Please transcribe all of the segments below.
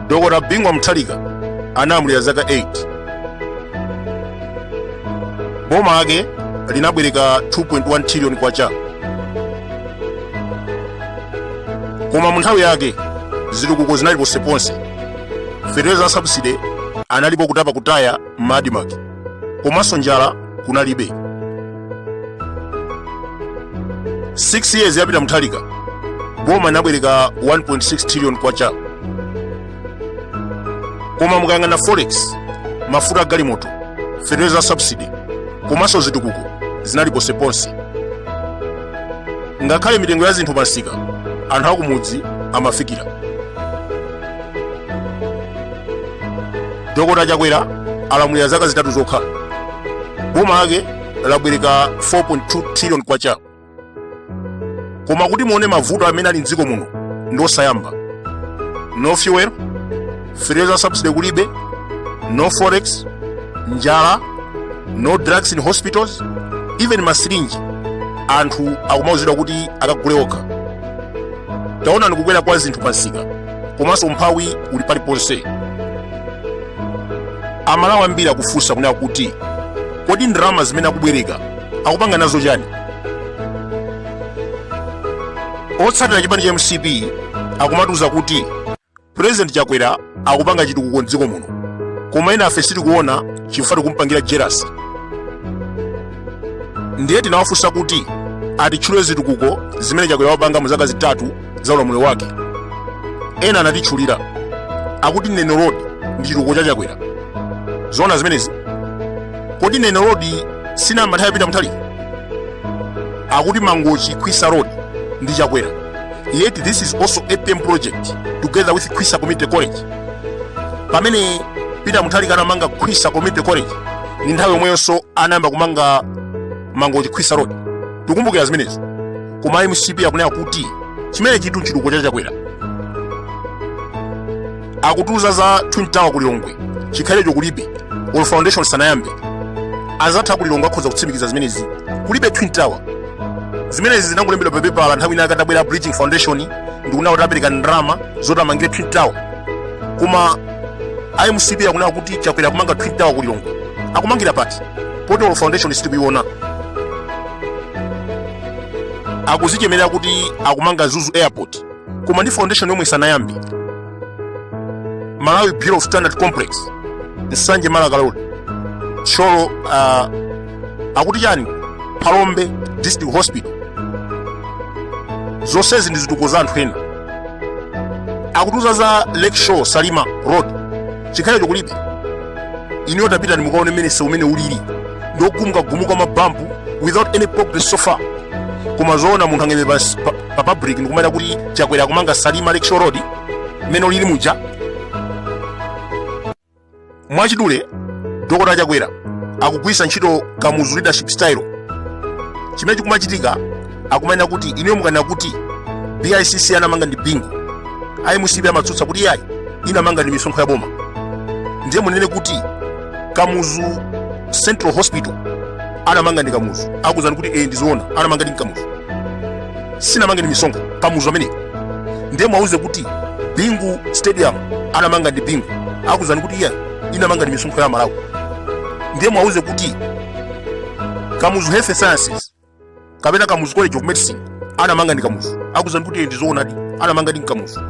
dokota bingu wa mutharika anamulira zaka 8 boma ake linabwereka 2.1 trillion kwacha koma mu nthawi yake zitukuko zinali ponseponse fetereza wa sabuside analipo kutapa kutaya ma admarc komanso njala kunalibe 6 years ya peter muthalika boma inabwereka 1.6 trillion kwacha koma mukayang'ana forex mafuta a galimoto fetereza wa sabuside komanso zitukuko zinali ponseponse ngakhale mitengo ya zinthu pansika anthu akumudzi amafikira dokota chakwera alamulira zaka zitatu zokha boma lake labwereka 4.2 trillion kwacha koma kuti muone mavuto amene ali mdziko muno ndi osayamba no fuel fertilizer subsidy kulibe no forex njala no drugs in hospitals even masirinji anthu akumauzidwa kuti akagule okha taonani kukwera kwa zinthu pansika komanso umphawi uli paliponse amalawi ambiri akufunsa kunena kuti kodi ndalama zimene akubwereka akupanga nazo chani otsatira chipani cha mcp akumatiuza kuti president chakwera akupanga chitukuko mdziko muno koma enafe sitikuona chifukwa tikumpangira jealous ndiye tinawafunsa kuti atitchulire zitukuko zimene chakwera wapanga mu zaka zitatu za ulamuliro wake ena anatitchulira akuti neno road ndi chitukuko cha chakwera zoona zimenezi kodi neno road sinayamba nthawi ya peter muthalika akuti mangochi khwisa road ndi chakwera yet this is also apm project together with khwisa community college pamene peter muthalika anamanga khwisa community college ndi nthawi yomweyonso anayamba kumanga mangochi khwisa road tikumbukira zimenezi koma mcp akunena kuti chimenechitu ndi chitukuko cha chakwera akutiuza za twin tower ku lilongwe chikhalirecho kulibe or foundation sanayambe anzathu ku lilongwe akhoza kutsimikiza zimenezi kulibe twin tower zimenezi zinangolembedwa pa pepala nthawi ina akatabwera bridging foundation ndikunena kuti apereka ndalama zoti amangire twin tower koma a mcp akunena kuti chakwera akumanga twin tower ku lilongwe akumangira pati poti or foundation sitikuiona akudzichemerera kuti akumanga mzuzu airport koma ndi foundation yomwe sanayambe malawi bureau of standard complex nsanje malaka road thyolo uh, akuti chani phalombe district hospital zonsezi ndi zitukuko za anthu ena akutiuza za lakeshore salima road chikhalire kulibe ineyo tapitani mukaone mmene msewu mmene ulili ndi wogumukagumuka mabampu without any progress so far koma zoona munthu angaime pansi pa- pa public ndikumanena kuti chakwera akumanga salima lakeshore road mmene ulili muja mwachidule dokotala chakwera akugwirisa ntchito kamuzu leadership style chimene chikumachitika akumanena kuti ineyo mukanena kuti bicc anamanga ndi bingu a mcp amatsutsa kuti iyayi inamanga ndi misonkho ya boma ndiye munene kuti kamuzu central hospital anamanga ndi kamuzu akuuzani kuti ee ndizoona anamanga ndi kamuzu sinamanga ndi misonkho kamuzu ameneyo ndiye muwauze kuti bingu stadium anamanga ndi bingu akuuzani kuti iyayi inamanga ndi misonkho ya amalawi ndiye muwauze kuti kamuzu health sciences kapena kamuzu college of medicine anamanga ndi kamuzu akuuzani kuti ndi zoonadi anamanga ndi kamuzu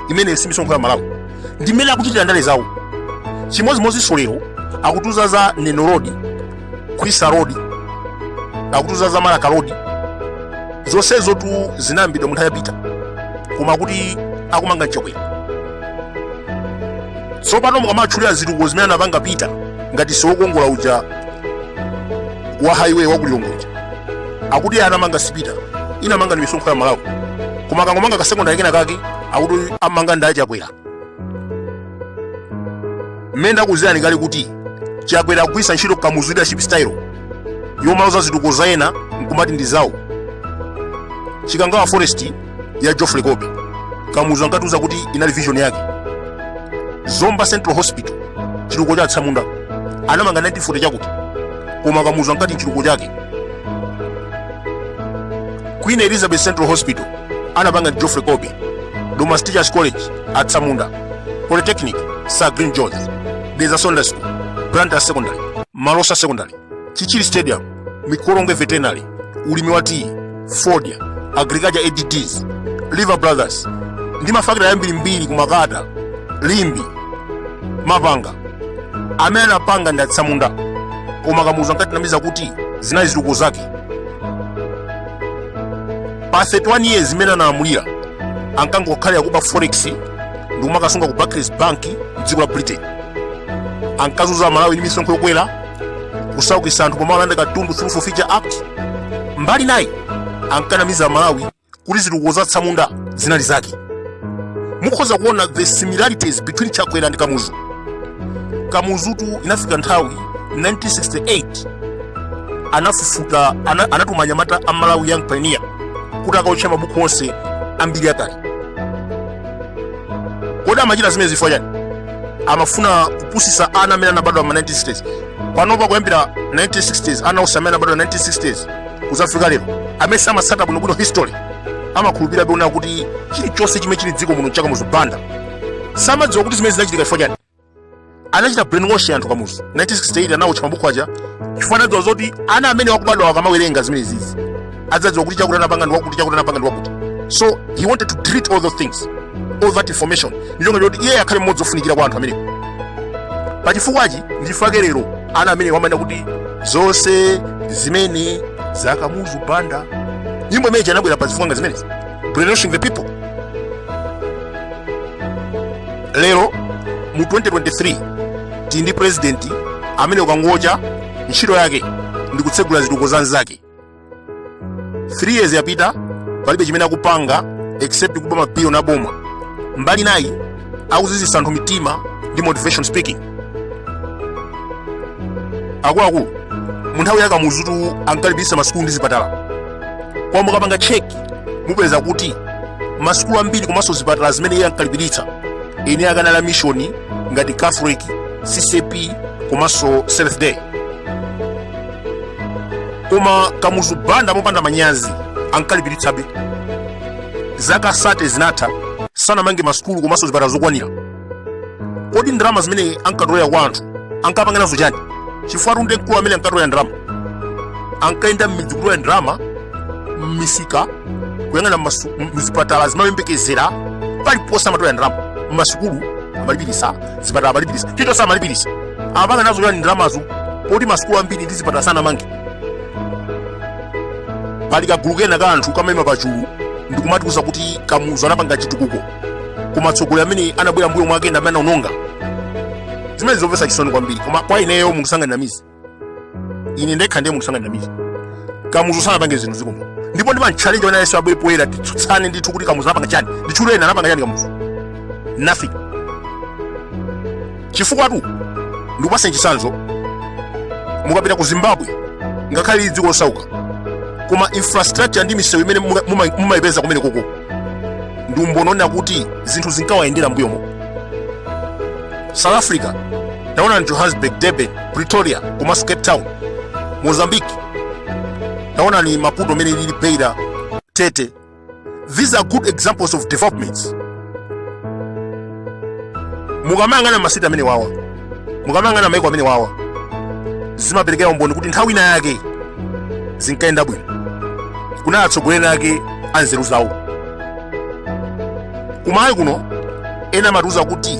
imene si misonkho ya amalawi ndi mmene akuchitira ndale zawo chimodzimodzinso lero akutiuza za neno road khwisa road akutiuza za malaka road zonsezotu zinayambidwa munthawi ya pita koma akuti akumanga ndi chakwera tsopano mukamatchulira zitukuko zimene anapanga pita ngati msewu wokongola uja wa highway wa kulilongwe uja akuti anamanga si pita inamanga ndi misonkho ya amalawi koma akangomanga kasekondari kena kake akuti amanga ndi achakwera mmene ndakuuzirani kale kuti chakwera akugwiritsa ntchito kamuzu leadership style yomaloza zitukuko za ena nkumati ndi zawo chikangawa forest ya Geoffrey Colby kamuzu ankatiuza kuti inali vision yake zomba central hospital chitukuko cha atsamunda anamanga 1940 chakuti koma kamuzu ankati nchitukuko chake queen elizabeth central hospital anapanga ndi geoffrey colby domasi teachers college atsamunda polytechnic sir glyn jones dedza secondary school blantyre secondary malosa secondary chichiri stadium mikolongwe veterinary ulimi wa tiyi fodya agriculture adds lever brothers ndi mafakitale ambirimbiri ku makata limbe mapanga amene anapanga ndi atsamunda koma kamuzu ankatinamiza kuti zinali zitukuko zake pa 31 years zimene analamulira ankangokhalira kuba forex ndi kumakasunga ku barclays bank mdziko la britain ankazunza amalawi ndi misonkho yokwera kusaukisa anthu pomwe alanda katundu through forfeiture act mbali inayi ankanamiza malawi kuti zitukuko za tsamunda zinali zake mukhoza kuona the similarities between chakwera ndi kamuzu Kamuzutu inafika nthawi 1968 anafufuta ana, anatuma anyamata a malawi young pioneer kuti akaotche mabuku onse ambiri akale kodi amachita zimenezi chifukwa chani amafuna kupusisa ana amene anabadwa ma 1960s panopa kuyambira 1960s ana onse amene anabadwa 1960s kudzafika lero amene samatsata bwinobwino history amakhulupirira zoona kuti chilichonse chimene chili mdziko muno ncha kamuzu banda samadziwa kuti zimenezi zinachitika chifukwa chani anachita brainwash anthu kamuzu 1968 anawotcha mabuku aja chifukwa anadziwa zoti ana amene akubadwa akamawerenga zimenezizi adzadziwa kuti chakuti anapanga ndi wakuti chakuti anapanga ndi wakuti so he wanted to delete all those things all that information ndi cholinga choti iye akhale mmodzi ofunikira kwa anthu amenewo pachifukwachi nchifukwa chake lero ana amenewa amanena kuti zonse zimenezi za kamuzu banda nyimbo imene ija inabwera pa zifukwa ngati zimenezi brainwashing the people lero mu 2023 tili ndi president amene kukangocha ntchito yake ndi kutsegula zitukuko za anzake 3 years yapita palibe chimene akupanga except kuba mabilioni aboma mbali inayi akuziziritsa anthu mitima ndi motivation speaking akuluakulu mu nthawi ya kamuzutu ankalipiritsa masukulu ndi zipatala koma mukapanga cheki mupeza kuti masukulu ambiri komanso zipatala zimene iye ankalipiritsa zinali za a mishoni ngati catholic ccap komanso seventh day koma kamuzu banda mopanda manyazi ankalipiritsabe zaka 30 zinatha sanamange masukulu komanso zipatala zokwanira kodi ndalama zimene ankatolera kwa anthu ankapanga nazo chani chifukwatu ndi mkulu amene ankatolera ndalama ankayenda m'midzi kutolera ndalama m'misika kuyang'ana masu- m- mzipatala azimayi oyembekezera paliponse amatolera ndalama m'masukulu amalipiritsa zipatala amalipirisa chomwe samalipirisa amapanga nazo chani ndalamazo poti masukulu ambiri ndi zipatala sanamange pali kagulu kena ka anthu kamayima pachulu ndikumatiuza kuti kamuzu anapanga chitukuko koma atsogoleri amene anabwera mbuyo mwake ndi amene anaononga zimenezi zomvetsa chisoni kwambiri koma kwa ineyo munthu sangandinamize ine ndekha ndiye munthu sangandinamize kamuzu sanapange zinthu mdziko muno ndipo ndimantchalenja wina aliyense abwere poyera titsutsane ndithu kuti kamuzu anapanga chani nditchule ena anapanga chani kamuzu nothing chifukwatu ndikupaseni chitsanzo mukapita ku zimbabwe ngakhale lili dziko losauka koma infrastructure ndi misewu imene muka- muma- mumayipeza kumenekoko ndi umboni wonena kuti zinthu zinkawayendera mbuyomo south africa naonani johannesburg durban pretoria komanso cape town mozambique naonani maputo mmene lilili beira tete these are good examples of developments mukamayang'ana masiti amene wawa mukamayang'ana maiko amene wawa zimaperekera umboni kuti nthawi ina yake zinkayenda bwino kunali atsogoleri ake anzeru zawo kumalawi kuno ena amatiuza kuti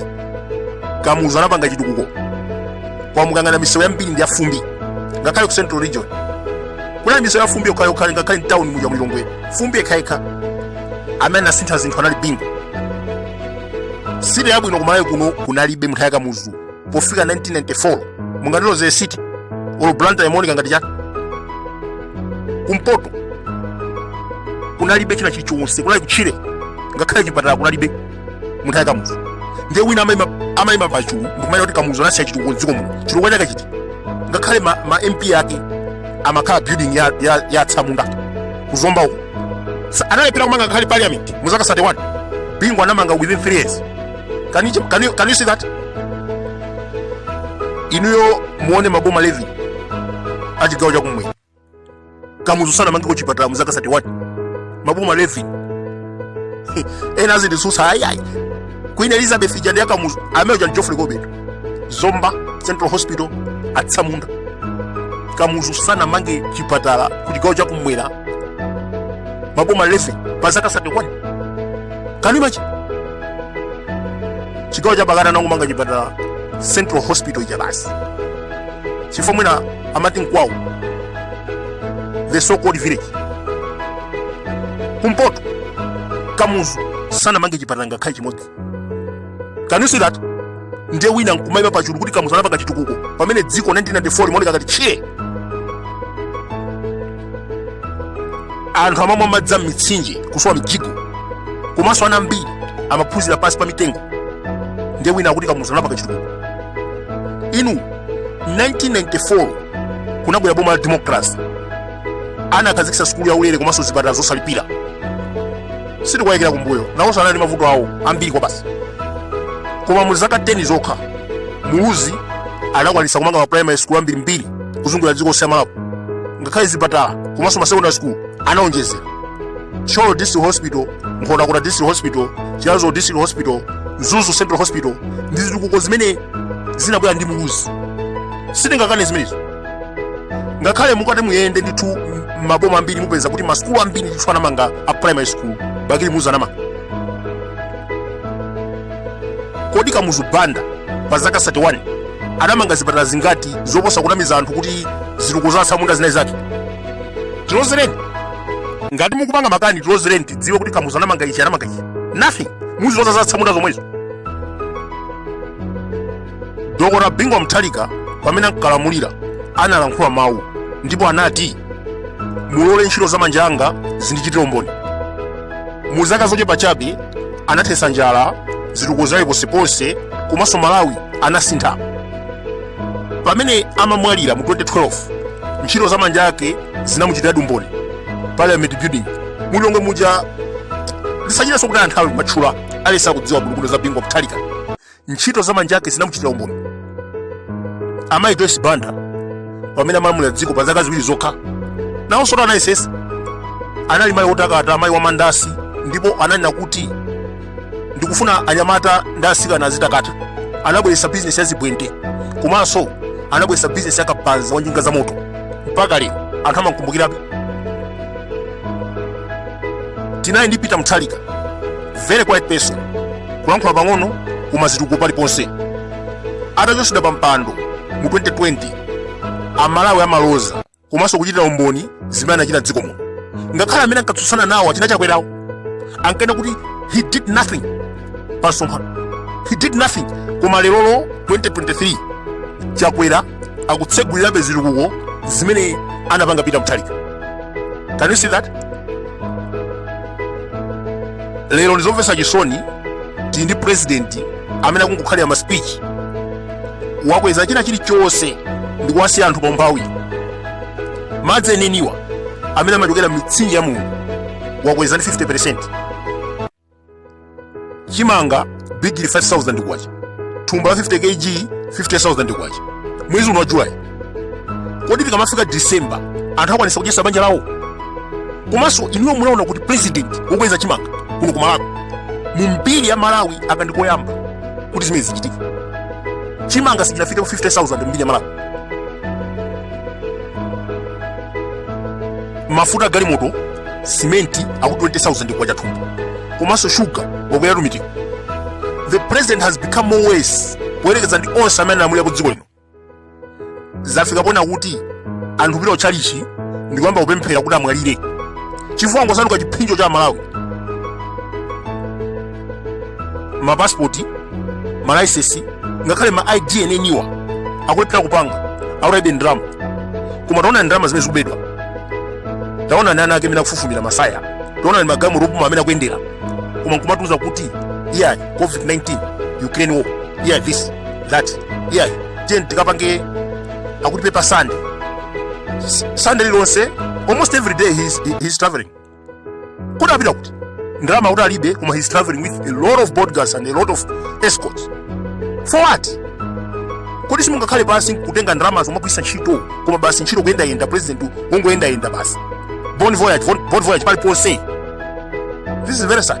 kamuzu anapanga chitukuko koma mukayang'ana misewu yambiri ndi yafumbi ngakhale ku central region kunali misewu yafumbi yokhayokha ngakhale mtauni muja mulilongwe fumbi lokhalokha amene anasintha zinthu anali bingu city yabwino kumalawi kuno kunalibe nthawi ya kamuzu pofika 1994 mungandiuze city olo blantyre imaoneka ngati chani kumpoto kunalibe china chilichonse kunali kutchire ngakhale chipatala kunalibe nthawi ya kamuzu ndiye wina amaima amaima pachulu ndikumanena kuti kamuzu anasiya chitukuko dziko muno chitukuko chake chiti ngakhale ma, ma mp ake amakhala building ya, ya, ya tsamunda kuzomba uko Sa- analephera kumanga ngakhale parliament mu zaka 31 bingu anamanga within 3 years can you, can you, can you see that inuyo muone maboma 11 a chigawo chakumwera kamuzu sanamangeko chipatala mu zaka 31 maboma 11 ena azinditsutsa ayiayi queen elizabeth ija si yakamuzu anamanga uja geoffrey colby to zomba central hospital atsamunda kamuzu sanamange chipatala ku chigawo chakumwera maboma 11 pa zaka 31 can you imagine chigawo cha pakati anangomanga chipatala central hospital ija basi chifukwa mwina amati nkwawo the so called village kumpoto kamuzu sanamange chipatala ngakhale chimodzi can you see that ndiye wina nkumaima pachulu kuti kamuzu anapanga chitukuko pamene dziko 1994 limaoneka ngati tchire anthu amamwa madzi a m'mitsinje kusowa mjigo komanso ana ambiri amaphunzira pansi pa mitengo ndiye wina akuti kamuzu anapanga chitukuko inu 1994 kunabwera boma la democracy anakhazikitsa sukulu ya ulere komanso zipatala zosalipira sitikuwayikira kumbuyo nawonso anali ndi mavuto awo ambiri kwabasi koma mu zaka 10 zokha muluzi anakwanitsa kumanga ma primary school ambirimbiri kuzungulira dziko lonse la Malawi ngakhale zipatala komanso ma secondary school anaonjezera Thyolo District Hospital, Nkhotakota District Hospital, Chiradzulu District Hospital, Mzuzu Central Hospital ndi zitukuko zimene zinabwera ndi muluzi. Sitingakane zimenezo. Ngakhale mukati muyende ndithu m- maboma ambiri mupeza kuti masukulu ambiri ndithu anamanga a primary school bakili muluzi anamanga. kodi kamuzu banda pa zaka 31 anamanga zipatala zingati zoposa kunamiza anthu kuti zitukuko za atsamunda zinali zake tilozereni ngati mukupanga makani tilozereni tidziwe kuti kamuzu anamanga ichi anamanga ichi nothing muziloza za atsamunda zomwezo dokota bingu wa mthalika pamene ankalamulira analankhula mawu ndipo anati mulole ntchito za manja anga zindichitire umboni mu zaka zochepa chabe anathetsa njala zitukuko zinali ponseponse komanso malawi anasintha pamene amamwalira mu 2012 ntchito za manja ake zinamuchitiradi umboni parliament building mu lilongwe muja tisachitenso kutaya nthawi kumatchula aliyense akudziwa bulukundo za bingu wa mthalika ntchito za manja ake zinamuchitira umboni amayi joyce banda pamene amalamulira dziko pa zaka ziwiri zokha nawonso too anayesesa anali mayi wotakata amayi wa mandasi ndipo ananena kuti ndikufuna anyamata ndi asikana azitakata anabweretsa bizinesi ya zibwente komanso anabweretsa bizinesi ya kabaza wa njinga za moto mpaka lero anthu amawakumbukirabe tinali ndi peter muthalika very quiet person kulankhula pang'ono koma zitukuko paliponse atachotsedwa pa mpando mu 2020 amalawi amaloza komanso kuchitira umboni zimene anachita dziko muno ngakhale amene ankatsutsana nawo achina chakwerawo ankanena kuti he did nothing pa msonkhano he did nothing koma lerolo 2023 chakwera akutsegulirabe zitukuko zimene anapanga Peter Mutharika. Can you see that? Lero ndizomvetsa chisoni tili ndi president amene akungokhalira ma speech wakweza china chilichonse ndi kuwasiya anthu paumphawi. Madzi enieniwa amene amachokera m'mitsinje ya Mulungu wakweza ndi 50%. chimanga bigili 5000 kwacha thumba la 50 kg 50000 kwacha mwezi uno wa july kodi tikamafika december anthu akwanisa kudyesa banja lawo komanso inuyo munaona kuti president wokweza chimanga kuno ku malawi mu mbiri ya malawi aka ndi koyamba kuti zimene zichitika chimanga sichinafike ku 50000 mu mbiri ya malawi mafuta a galimoto simenti ali ku 20000 kwacha thumba komanso shuga wakwera tumitimu the president has become more worse poyerekeza ndi onse amene alamulirapo dziko lino zafika pena kuti anthu kupita kutchalichi ndi kuyamba kupemphera kuti amwalire chifukwa wangosanduka chiphinjo cha amalawi mapasipoti malaisesi ngakhale ma id eneniwa akulephera kupanga akuti alibe ndalama koma taonani ndalama zimene zikubedwa taonani ana ake amene akufufumira masaya taonani magalimoto apamwamba amene akuyendera koma nkumatiuza kuti iyayi covid-19 ukraine war iyayi this that iyayi tiye tikapange akuti pepa sande sande lilonse almost every day he's, he's traveling kodi akupita kuti ndalama kuti alibe koma he's traveling with a lot of bodyguards and a lot of escorts for what kodi simungakhale pansi kutenga ndalama zomwe agwiritsa ntchito koma basi ntchito kuyendayenda president wongoyendayenda basi bon voyage bon voyage paliponse this is very sad